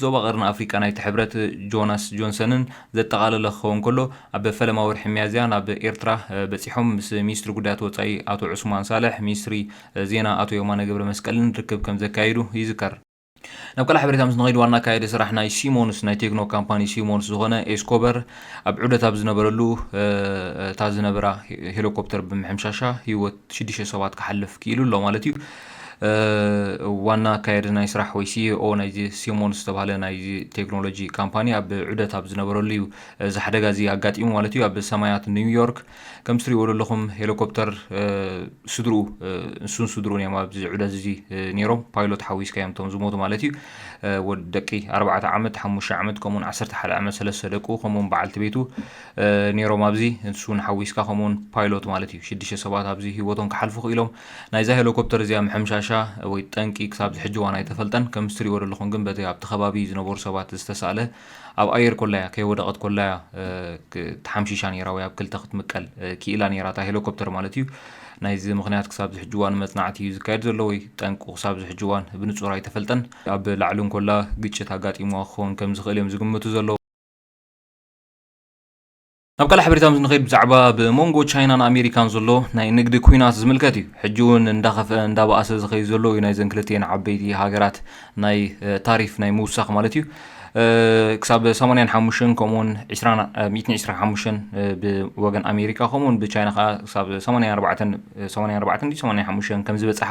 ዞባ ቀርኒ ኣፍሪቃ ናይቲ ሕብረት ጆናስ ጆንሰንን ዘጠቓለለ ክኸውን ከሎ፣ ኣብ ፈለማ ወርሒ ሚያዝያ ናብ ኤርትራ በጺሖም ምስ ሚኒስትሪ ጉዳያት ወጻኢ ኣቶ ዑስማን ሳልሕ፣ ሚኒስትሪ ዜና ኣቶ የማነ ገብረመስቀልን ርክብ ከምዘካየዱ ይዝከር። ናብ ካልእ ሓበሬታ ምስ ንኸይድ ዋና ኣካያዲ ስራሕ ናይ ሲሞንስ ናይ ቴክኖ ካምፓኒ ሲሞንስ ዝኾነ ኤስኮበር ኣብ ዑደት ኣብ ዝነበረሉ እታ ዝነበራ ሄሊኮፕተር ብምሕምሻሻ ህይወት ሽዱሽተ ሰባት ክሓልፍ ክኢሉ ኣሎ ማለት እዩ። ዋና ኣካየዲ ናይ ስራሕ ወይ ሲኢኦ ናይዚ ሲሞን ዝተባሃለ ናይዚ ቴክኖሎጂ ካምፓኒ ኣብ ዑደት ኣብ ዝነበረሉ እዩ እዚ ሓደጋ እዚ ኣጋጢሙ ማለት እዩ። ኣብ ሰማያት ኒውዮርክ ከምቲ ትሪእዎ ዘለኹም ሄሊኮፕተር ስድርኡ ንሱን ስድርኡን እዮም ኣብዚ ዑደት እዚ ነይሮም ፓይሎት ሓዊስካ እዮም እቶም ዝሞቱ ማለት እዩ። ደቂ ኣርባዕተ ዓመት ሓሙሽተ ዓመት ከምኡውን ዓሰርተ ሓደ ዓመት ሰለስተ ደቁ ከምኡውን በዓልቲ ቤቱ ኔሮም ኣብዚ ንሱ ውን ሓዊስካ ከምኡ ውን ፓይሎት ማለት እዩ ሽዱሽተ ሰባት ኣብዚ ሂወቶም ክሓልፉ ክኢሎም ናይዛ ሄሎኮፕተር እዚኣ ምሕምሻሻ ወይ ጠንቂ ክሳብዚ ሕጂ ዋን ኣይተፈልጠን ከምዚ ትሪእዎ ዘለኹም ግን በቲ ኣብቲ ከባቢ ዝነበሩ ሰባት ዝተሳእለ ኣብ ኣየር ኮላ እያ ከይወደቐት ኮላ እያ ተሓምሺሻ ኔራ ወይ ኣብ ክልተ ክትምቀል ክኢላ ኔራ እታ ሄሎኮፕተር ማለት እዩ ናይዚ ምክንያት ክሳብ ዝሕጂ እዋን መጽናዕቲ እዩ ዝካየድ ዘሎ ወይ ጠንቁ ክሳብ ዝሕጂ እዋን ብንጹር ኣይተፈልጠን ኣብ ላዕሊ እንኮላ ግጭት ኣጋጢምዋ ክኸውን ከም ዝኽእል እዮም ዝግምቱ ዘለዉ ናብ ካልእ ሓበሬታ ምስ ንኸይድ ብዛዕባ ብ መንጎ ቻይናን ኣሜሪካን ዘሎ ናይ ንግዲ ኲናት ዝምልከት እዩ። ሕጂ እውን እንዳኸፍኣ እንዳበኣሰ ዝኸይድ ዘሎ እዩ ናይዘን ክልቲኤን ዓበይቲ ሃገራት ናይ ታሪፍ ናይ ምውሳኽ ማለት እዩ። ክሳብ ሰማንያን ሓሙሽተን ከምኡውን ዕስራን ሚእትን ዕስራን ሓሙሽተን ብወገን ኣሜሪካ ከምኡውን ብቻይና ከዓ ክሳብ ሰማንያን ኣርባዕተን ሰማንያን ኣርባዕተን ድዩ ሰማንያን ሓሙሽተን ከም ዝበጽሓ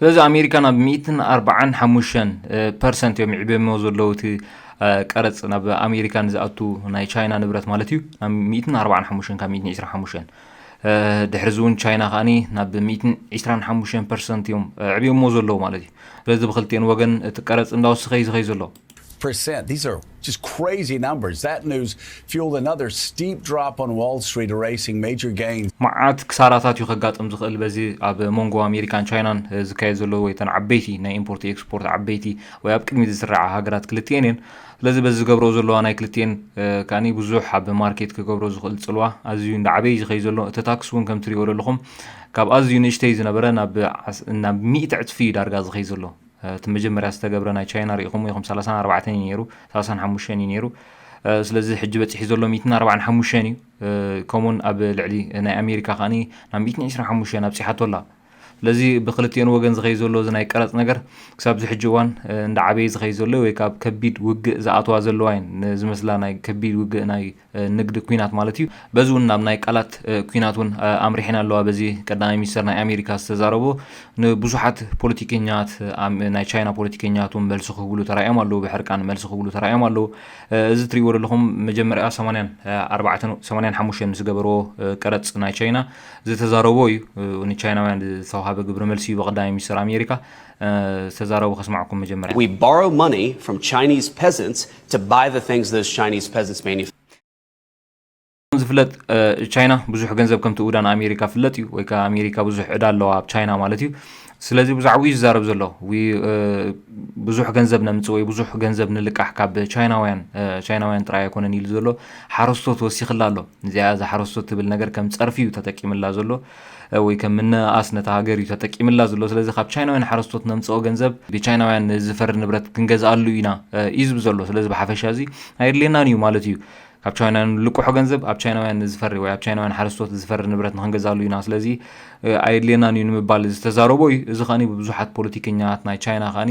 ስለዚ ኣሜሪካ ናብ ሚእትን ኣርባዓን ሓሙሽተን ፐርሰንት እዮም ይዕብየሞ ዘለዉ እቲ ቀረፅ ናብ ኣሜሪካ ንዝኣቱ ናይ ቻይና ንብረት ማለት እዩ ናብ ሚእትን ኣርባዓን ሓሙሽተን ካብ ሚእትን ዕስራን ሓሙሽተን ድሕሪ እዚ እውን ቻይና ከዓኒ ናብ ሚእትን ዕስራን ሓሙሽተን ፐርሰንት እዮም ዕብየሞ ዘለዉ ማለት እዩ ስለዚ ብክልቲኤን ወገን እቲ ቀረፅ እንዳወስኸ እዩ ዝኸይ ዘሎ percent. These are just crazy numbers. That news fueled another steep drop on Wall Street, erasing major gains. መዓት ክሳራታት እዩ ከጋጥም ዝኽእል በዚ ኣብ መንጎ ኣሜሪካን ቻይናን ዝካየድ ዘሎ ወይ ተን ዓበይቲ ናይ ኢምፖርት ኤክስፖርት ዓበይቲ ወይ ኣብ ቅድሚት ዝስርዓ ሃገራት ክልቲኤን እየን ስለዚ በዚ ዝገብረኦ ዘለዋ ናይ ክልቲኤን ከዓኒ ብዙሕ ኣብ ማርኬት ክገብሮ ዝኽእል ጽልዋ ኣዝዩ እንዳዓበይ እዩ ዝኸይ ዘሎ እቲ ታክስ እውን ከምትሪእዎ ዘለኹም ካብ ኣዝዩ ንእሽተይ ዝነበረ ናብ ናብ ሚእቲ ዕጽፊ እዩ ዳርጋ ዝኸይ ዘሎ እቲ መጀመርያ ዝተገብረ ናይ ቻይና ሪኢኹምዎ ኢኹም ሰላሳን ኣርባዕተን እዩ ነይሩ ሰላሳን ሓሙሽተን እዩ ነይሩ ስለዚ ሕጂ በፂሒ ዘሎ ሚትን ኣርባዕን ሓሙሽተን እዩ ከምኡውን ኣብ ልዕሊ ናይ ኣሜሪካ ከዓ ናብ ሚትን ዕስራን ሓሙሽተን ኣብፂሓቶ ኣላ ስለዚ ብክልቲኦን ወገን ዝኸይ ዘሎ እዚ ናይ ቀረፅ ነገር ክሳብ እዚ ሕጂ እዋን እንዳዓበየ ዝኸይ ዘሎ ወይ ካብ ከቢድ ውግእ ዝኣተዋ ዘለዋ እየን ዝመስላ ናይ ከቢድ ውግእ ናይ ንግድ ኩናት ማለት እዩ በዚ እውን ናብ ናይ ቃላት ኩናት እውን ኣምሪሐን ኣለዋ በዚ ቀዳማይ ሚኒስተር ናይ ኣሜሪካ ዝተዛረቦ ንብዙሓት ፖለቲከኛት ናይ ቻይና ፖለቲከኛት እውን መልሲ ክህብሉ ተራእዮም ኣለዉ ብሕርቃን መልሲ ክህብሉ ተራእዮም ኣለዉ እዚ ትሪእዎ ዘለኹም መጀመርያ 84 ምስ ገበርዎ ቀረፅ ናይ ቻይና ዝተዛረቦ እዩ ንቻይናውያን ዝተዋሃበ ግብረ መልሲ እዩ ብቀዳማይ ሚኒስተር ኣሜሪካ ዝተዛረቦ ከስማዕኩም መጀመርያ We borrow money from Chinese peasants ከምዝፍለጥ ቻይና ብዙሕ ገንዘብ ከም ትእውዳ ንኣሜሪካ ፍለጥ እዩ ወይ ከዓ ኣሜሪካ ብዙሕ ዕዳ ኣለዋ ኣብ ቻይና ማለት እዩ ስለዚ ብዛዕባ እዩ ዝዛረብ ዘሎ ብዙሕ ገንዘብ ነምፅ ወይ ብዙሕ ገንዘብ ንልቃሕ ካብ ቻይናውያን ቻይናውያን ጥራይ ኣይኮነን ኢሉ ዘሎ ሓረስቶት ወሲኽላ ኣሎ እዚኣ እዛ ሓረስቶት ትብል ነገር ከም ፀርፊ እዩ ተጠቂምላ ዘሎ ወይ ከም ምንእኣስ ነታ ሃገር እዩ ተጠቂምላ ዝሎ ስለዚ ካብ ቻይናውያን ሓረስቶት ነምጽኦ ገንዘብ ብቻይናውያን ዝፈሪ ንብረት ክንገዝኣሉ ኢና እዩ ዝብ ዘሎ ስለዚ ብሓፈሻ እዚ ኣየድልየናን እዩ ማለት እዩ ካብ ቻይናውያን ልቁሖ ገንዘብ ኣብ ቻይናውያን ዝፈሪ ወይ ኣብ ቻይናውያን ሓረስቶት ዝፈሪ ንብረት ንክንገዛሉ ኢና ስለዚ ኣየድልየናን እዩ ንምባል ዝተዛረቦ እዩ እዚ ከኒ ብብዙሓት ፖለቲከኛት ናይ ቻይና ከኒ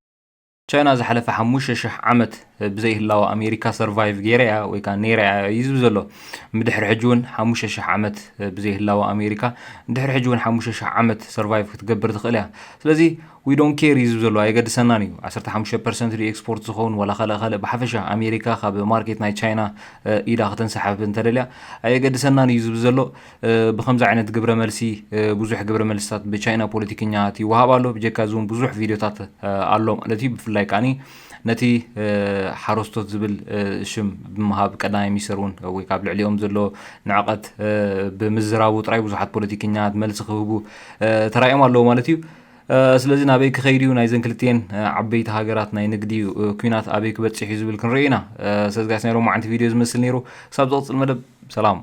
ቻይና ዝሓለፈ ሓሙሽተ ሽሕ ዓመት ብዘይ ህላወ ኣሜሪካ ሰርቫይቭ ገይረ እያ ወይ ከዓ ነይረ እያ እዩ ዝብል ዘሎ ብድሕሪ ሕጂ እውን ሓሙሽተ ሽሕ ዓመት ብዘይ ህላወ ኣሜሪካ ድሕሪ ሕጂ እውን ሓሙሽተ ሽሕ ዓመት ሰርቫይቭ ክትገብር ትኽእል እያ ስለዚ ዊ ዶን ኬር እዩ ዝብል ዘሎ ኣየገድሰናን እዩ 15 ፐርሰንት ድዩ ኤክስፖርት ዝኸውን ዋላ ካልእ ካልእ ብሓፈሻ ኣሜሪካ ካብ ማርኬት ናይ ቻይና ኢዳ ከተንሰሓብ እንተደልያ ኣየገድሰናን እዩ ዝብል ዘሎ ብኸምዚ ዓይነት ግብረ መልሲ ብዙሕ ግብረ መልስታት ብቻይና ፖለቲከኛታት ይወሃብ ኣሎ ብጀካ እዚ እውን ብዙሕ ቪድዮታት ኣሎ ማለት እዩ ብፍላይ ከዓኒ ነቲ ሓረስቶት ዝብል ሽም ብምሃብ ቀዳማይ ሚኒስተር እውን ወይ ካብ ልዕሊኦም ዘሎ ንዕቐት ብምዝራቡ ጥራይ ብዙሓት ፖለቲከኛት መልሲ ክህቡ ተራእዮም ኣለዉ ማለት እዩ ስለዚ ናበይ ክኸይድ እዩ ናይዘን ክልትኤን ዓበይቲ ሃገራት ናይ ንግዲ ኩናት ኣበይ ክበፅሕ እዩ ዝብል ክንርኢ ኢና ሰዝጋስ ናይ ሎማዓንቲ ቪድዮ ዝመስል ነይሩ ክሳብ ዝቕፅል መደብ ሰላም